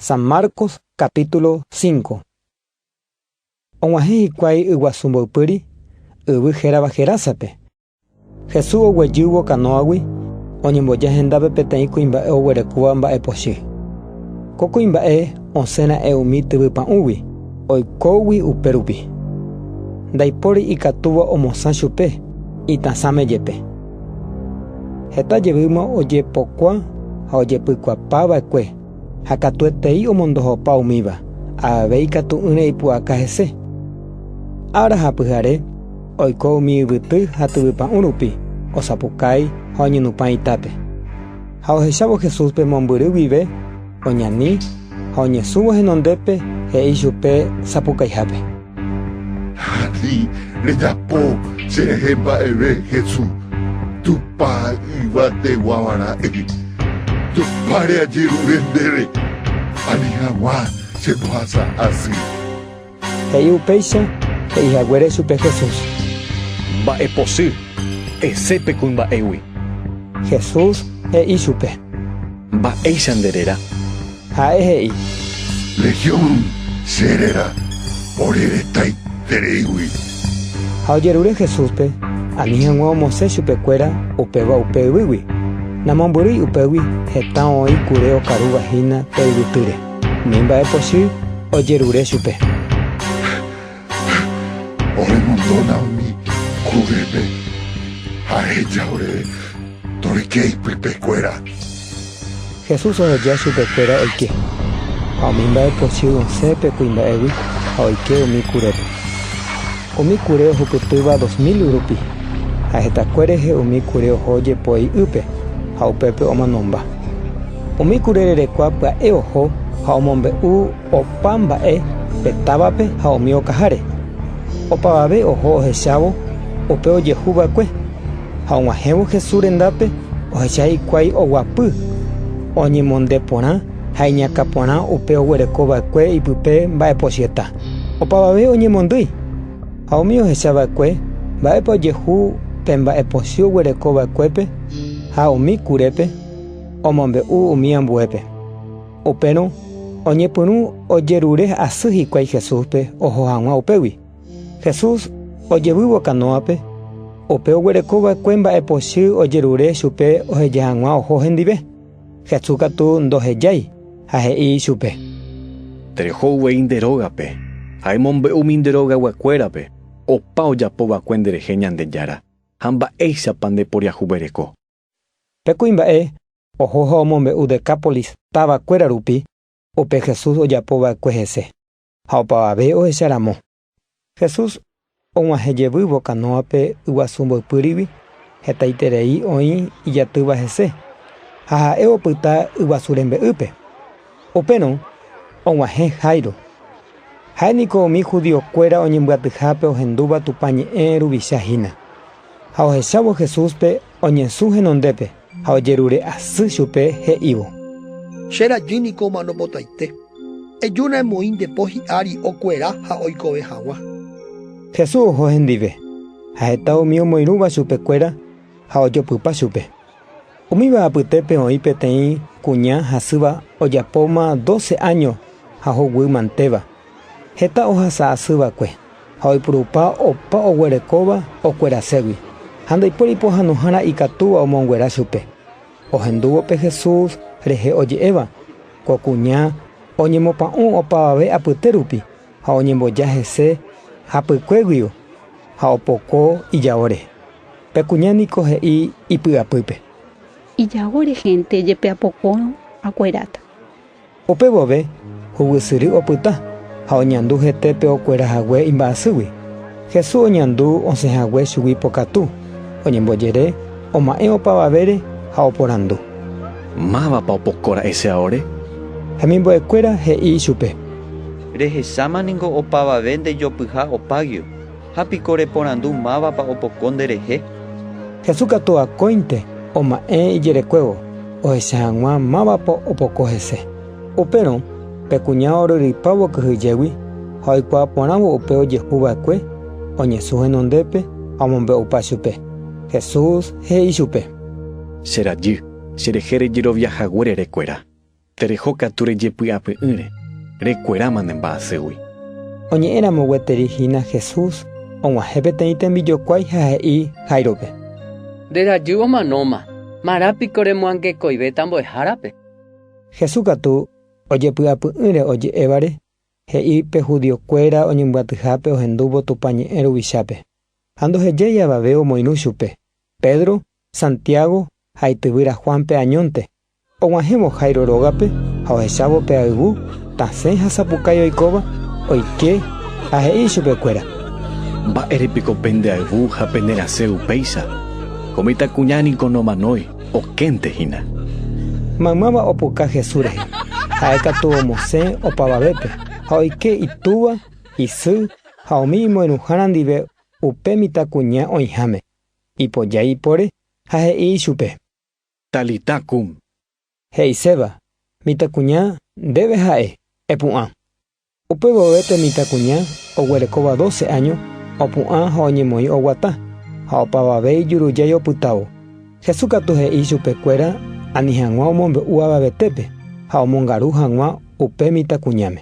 San Marcos capítulo 5 Og̃uahẽ hikuái yguasu mboypýri, yvy hérava Gerásape. Jesús oguejývo kanóagui, oñemboja hendápe peteĩ kuimba'e oguerekóva mba'e pochy. Ko kuimba'e osẽ ra'e umi tyvy pa'ũgui, oikógui upérupi. Ndaipóri ikatúva omosã chupe, itasãme jepe. Heta jevýma ojepokua ha ojepykuapa va'ekue, ha katuetei omondohopa umíva, avave ikatu'ỹre ipu'aka hese. Ára ha pyhare, oiko umi yvyty ha tyvypa'ũ rupi, osapukái ha oñenupã itápe. Ha ohechávo Jesúspe mombyry guive, oñani ha oñesũvo henondépe, he'i chupe sapukaihápe: Ani rejapo cherehe mba'eve Jesús, Tupã Yvategua Vara'e. Tupãre ajerure ndéve, ani haguã che pohasa asy. He'i upéicha he'i haguére chupe Jesús. Mba'e posy, ese pe kuimba'égui. Jesús he'i chupe. Mba'éicha nde réra? Ha'e he'i. Legión che réra, ore retaiterei-gui. Ha ojerure Jesúspe, ani hag̃ua omosẽ chupekuéra upéva upe yvýgui. Namombyrýi upégui heta oĩ kure okarúva hína pe yvytýre, ni mba'e pochy ojerure chupe. Ha oremondóna umi kúvepe, ha eheja oréve, Toreke ipypekuéra. Jesús oheja chupekuéra oike, ha umi mba'epochy osẽ pe kuimba'égui ha oike umi kurépe. Umi kure ohupytýva dos mil rupi, ha hetakue rehe umi kure oho jepo ei ýpe ha upépe omonomba. Umi kure rerekua pya'e oho ha omombe'u Opa mba'e pe távape ha umi okaháre. Opavave oho ohechávo upe ojehu va'ekue, ha og̃uahẽvo Jesús rendápe ohecha hikuái oguapy, oñemonde porã ha iñakã porã upe oguereko va'ekue ipype mba'epochýeta. Opavave oñemondýi. Ha umi ohecha va'ekue, mba'épa ojehu pe mba'epochy oguereko va'ekuépe ha umi kurépe, omombe'u umi ambuépe. Upérõ oñepyrũ ojerure asy hikuái Jesúspe oho hag̃ua upégui. Jesús ojevývo kanóape, upe oguereko va'ekue mba'epochy ojerure chupe oheja hag̃ua oho hendive. Jesús katu ndohejái ha he'i ichupe. Tereho uvei nde rógape, ha emombe'u umi nde rogayguakuérape opa ojapo va'ekue nderehe Ñandejára ha mba'éichapa ndeporiahuvereko. Pe kuimba'e oho ha omombe'u Decápolis táva kuéra rupi upe Jesús ojapo va'ekue hese, ha opavave ohecha ramo. Jesús og̃uahẽ jevy vokanóape yguasu mboypýrigui, hetaiterei oĩ ijatýva hese, ha ha'e opyta yguasu rembe'ýpe. Upérõ og̃uahẽ Jairo. Ha'e niko umi judío kuéra oñembyatyhápe ohendúva Tupã ñe'ẽ ruvicha hína. Ha ohechávo Jesúspe oñesũ henondépe ha ojerure asy chupe, he'ívo. Che rajy niko omano potaite. Ejúna emoĩ nde po hi'ári okuera ha oikove haguã. Jesús oho hendive, ha heta umi omoirũva chupe kuéra ha ojopypa chupe. Umíva apytépe oĩ peteĩ kuña hasýva ojapóma doce áño ha hoguy mantéva. Heta ohasa asy va'ekue ha oipurupa opa oguerekóva okueraségui, ha ndaipuéri pohãnohára ikatúva omonguera chupe. Ohendúvo pe Jesús rehe oje'éva, ko kuña oñemopa'ũ opavave apyte rupi ha oñemboja hese hapykue guiu ha opoko ijao rehe. Pe kuña niko he'i ipy'apýpe. Ijao rehénte jepe apokórõ, akueráta. Upe vove hugusyry opyta ha oñandu hete pe okuera hague imba'asýgui. Jesús oñandu osẽ hague chugui pokatu, oñembojere, oma'ẽ opavavére ha oporandu. Mávapa opoko ra'ese aore? Hemimbo'ekuéra he'i ichupe. Rehecháma ningo opavave ndejopyha opáguio. Ha piko reporandu mávapa opoko nderehe. Jesús katu akóinte oma'ẽ ijerekuévo ohecha hag̃ua mávapa opoko hese. Upérõ pe kuña oryrypávo kyhyjégui ha oikuaa porãvo upe ojehu va'ekue, oñesũ henondépe ha omombe'upa chupe. Jesús he'i chupe. Che rajy, cherehe rejerovia hague rerekuéra. Tereho katu rejepy'apy'ỹre, rekueráma ne mba'aségui. Oñe'ẽramo gueteri hína Jesús, og̃uahẽ peteĩ tembijokuái ha he'i Jairópe. Nde rajy omanóma, marã piko remoangekoivéta mbo'ehárape. Jesús katu ojepy'apy'ỹre oje'évare, he'i pe judiokuéra oñembyatyhápe ohendúvo Tupã ñe'ẽ ruvichápe. Ha ndohejái avave omoirũ chupe, Pedro, Santiago ha ityvýra Juánpe añónte, Og̃uahẽvo Jairo rógape ha ohechávo pe ayvu tasẽ ha sapukái oikóva, oike ha he'i ichupe kuéra. Mba'ére piko pende ayvu ha pene rasẽ upéicha? Ko mitãkuña niko nomanói, okénte hína. Maymáva opuka Jesús rehe, ha'e katu omosẽ opavavépe ha oike itúva, isy ha umi imoirũhára ndive upe mitãkuña oĩháme. Ipojái ipore ha he'i ichupe. Talita kum. He'iséva, Mitãkuña, ndéve ha'e, epu'ã. Upe vove pe mitãkuña oguerekóva doce áño opu'ã ha oñemoĩ oguata, ha opavave ijurujái opytávo. Jesús katu he'i chupe kuéra ani hag̃ua omombe'u avavetépe ha omongaru hag̃ua upe mitãkuñáme.